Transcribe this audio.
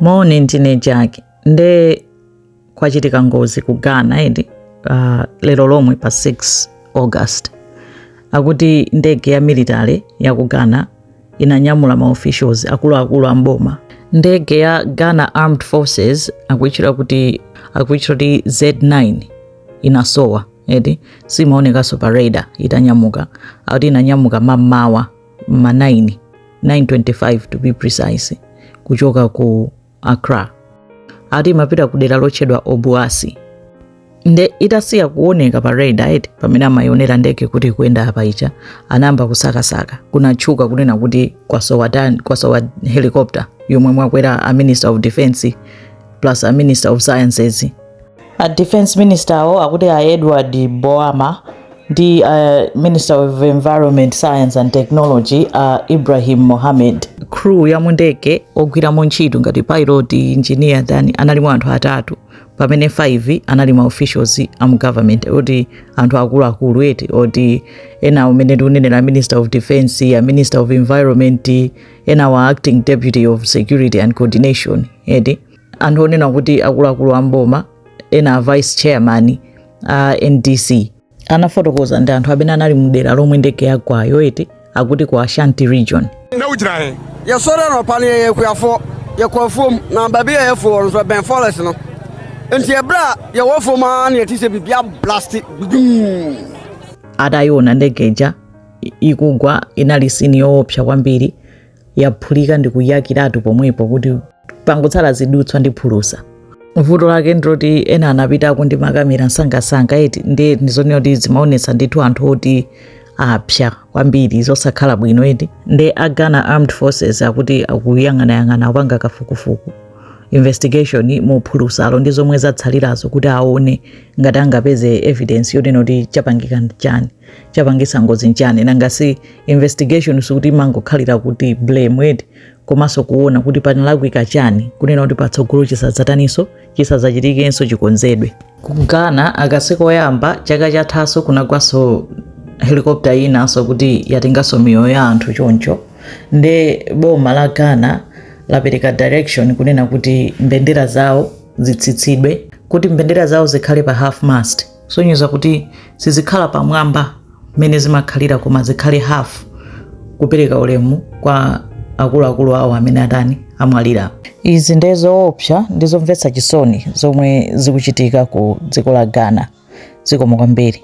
moni ndine jack nde kwachitika ngozi ku ghana edi uh, lero lomwe pa 6 august akuti ndege ya military ya ku ghana inanyamula maofficials akuluakulu a mboma ndege ya ghana armed forces akuitchula kuti akuitchula kuti z9 inasowa edi simaonekanso pa radar itanyamuka akuti inanyamuka mammawa ma 9 925 to be precise kuchoka ku accra ati imapita ku dela lotchedwa obuasi nde itasiya kuoneka pa radar eti pamene amayionera ndege kuti ikuyenda apa icha anayamba kusakasaka kunatchuka kunena kuti kwasowa dan- kwasowa helicopter yomwe mwakwera a minister of defense plus a minister of sciences a defense minister awo akuti a edward boama ndi uh, minister of environment science and technology a uh, ibrahim mohammed crew ya mundege ogwiramo ntchito ngati pilot engineer tani analimo anthu atatu pamene 5 anali ma officials a mu government oti anthu akuluakulu eti oti ena umene tikunenera minister of defense a minister of environment ena wa acting deputy of security and coordination eti anthu onena kuti akuluakulu a mboma ena a vice chairman a ndc anafotokoza ndi anthu amene anali mdera lomwe ndege yagwayo eti akuti ku ashanti region ndawuchitahe yɛsɔre anɔpa no yɛyɛ akuafoɔ yɛkɔ afuom na baabi a yɛfo wɔ no so ɛbɛn forest no nti ɛberɛ a yɛwɔ fom a ne yɛte sɛ biribia blaste dum atayiona ndege ija ikugwa inali sini yoopsa kwambiri yaphulika ndi kuyakiratu pomwepo kuti pangotsala zidutswa ndi phulusa vuto lake ndiloti ena anapita ndi makamera msangasanga eti ndi ndizonena kuti zimaonetsa ndithu anthu oti apsa kwambiri zosakhala bwino eti nde a ghana armed forces akuti akuyang'anayang'ana akupanga kafukufuku investigation muphulusalo ndi zomwe zatsalirazo kuti aone ngati angapeze evidence yonena kuti chapangika chani chapangisa ngozi nchani nangasi investigation sikuti imangokhalira kuti blame edi komanso kuona kuti panalakwika chani kunena kuti patsogolo chisadzataninso chisadzachitikenso chikonzedwe ku ghana aka sikoyamba chaka chathaso kunagwaso helikopta inanso kuti yatenganso miyoyo ya anthu choncho nde boma la ghana lapereka direction kunena kuti mbendera zawo zitsitsidwe kuti mbendera zawo zikhale pa half mast kusonyeza kuti sizikhala pamwamba mmene zimakhalira koma zikhale half kupereka ulemu kwa akuluakulu awo amene atani amwalira izi nde zoopsa ndi zomvetsa chisoni zomwe zikuchitika ku dziko la ghana zikomo kwambiri